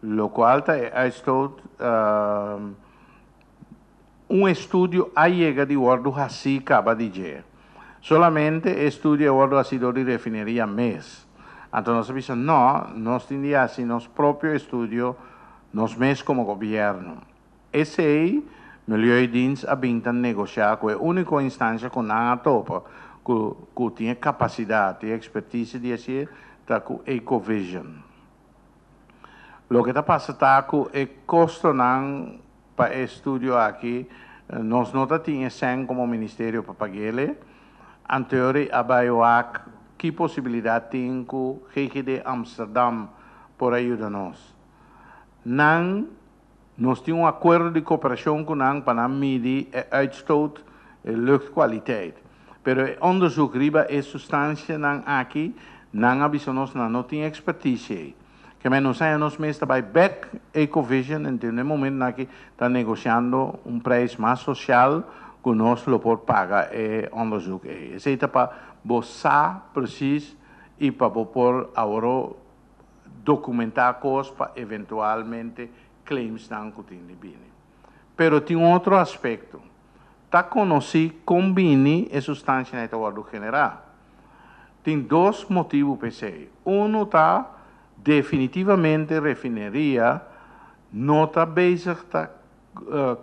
Locual ta e uitstoot Un estudio a yega di wordo haci caba di dje. Solamente e estudio a wordo haci dor di refineria mes. Anto nos a bisa, no, nos tin di haci nos propio estudio nos mes como gobierno. Esei milieudins a bin ta negosha ku e úniko instansha ku nan a topa ku ku tin e kapasidat i ekspertise di hasi e ta ku Ecovision. Loke ta pasa ta ku e kostonan pa e studio aki nos no ta tin e sèn komo ministerio pa pag'el e. Anteor e aba wak ki posibilidat tin ku GGD Amsterdam por a yuda nos. Nan. Nos tin un akuerdo di koperashon ku nan pa nan midi e uitstoot, e luchtkwaliteit. Pero e onderzoek riba e sustansienan aki, nan a bisa nos nan no tin ekspertisie ei. Kemei nos haña nos mes ta bai bek Ecovision en den e momento aki ta negosiando un preis mas sosial ku nos lo por paga e onderzoek ei. Esei ta pa bo sa presis i pa bo por awor documentá cos pa eventualmente claimsnan cu tin di bini. Pero tin otro aspecto. Ta conoci con bini e sustancianai ta wordo generá. Tin dos motibu p'esei. Uno ta, definitivamente refineria no ta bezig ta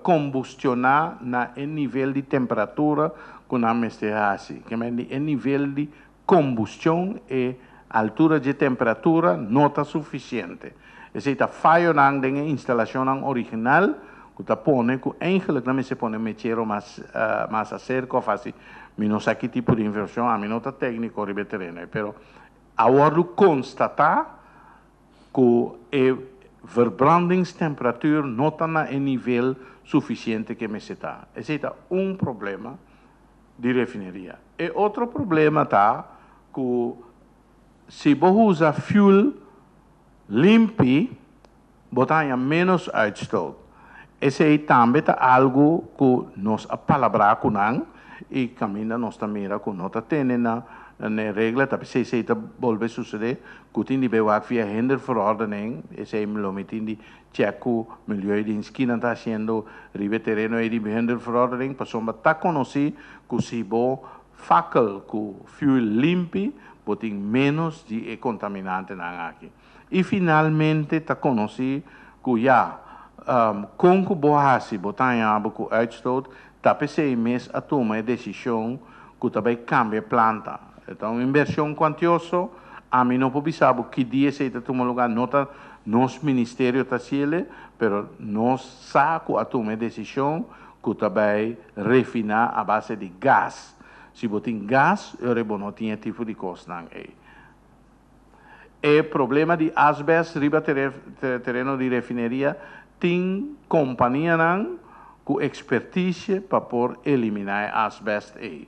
combustioná na e nivel di temperatura cu nan mester haci, kemei di e nivel di Kombustion E altura dje temperatura no ta sufisiente. Esei ta fayonan den e instalashonnan original ku ta pone ku eingelik nan mester pone mechero mas mas aserka òf hasi. Mi no sa ki tipo di invershon, ami no ta tekniko riba e tereno ei, pero a wòrdu konstatá ku e verbrandingstemperatur no ta na e nivel sufisiente ku e mester ta. Esei ta un problema. di refineria. E otro problema ta cu si bo usa fuel limpi bo ta haña menos uitstoot. Esey tambe ta algo cu nos a palabra cu nan y caminda nos ta mira cu no ta tene na e regla tapi si esey ta bolbe sucede cu tin di be wak via hinder verordening esey lo mitin di Chèk ku Milieu den Skinan ta hasiendo riba e tereno ei di Behuinderverordening pasobra bo ta konosí ku si bo fakel ku fuel limpi bo tin ménos di e kontaminantenan aki. I finalmente ta konosí ku ya kon ku bo hasi bo ta haña bo ku uitstoot Ta p'esei mes a tuma e desishon ku ta bai kambia e planta. E ta un inbershon kuantioso. Ami no por bisa bo ki dia esei ta tuma lugá, no ta nos ministerio ta hasiele, pero nos sa ku a tuma e desishon ku ta bai refiná a base di gas. Si bo tin gas, yore bo no tin e tipo di kosnan ei. E problema di asbest riba tereno di refineria tin companianan cu expertisie pa por elimina e asbest ey.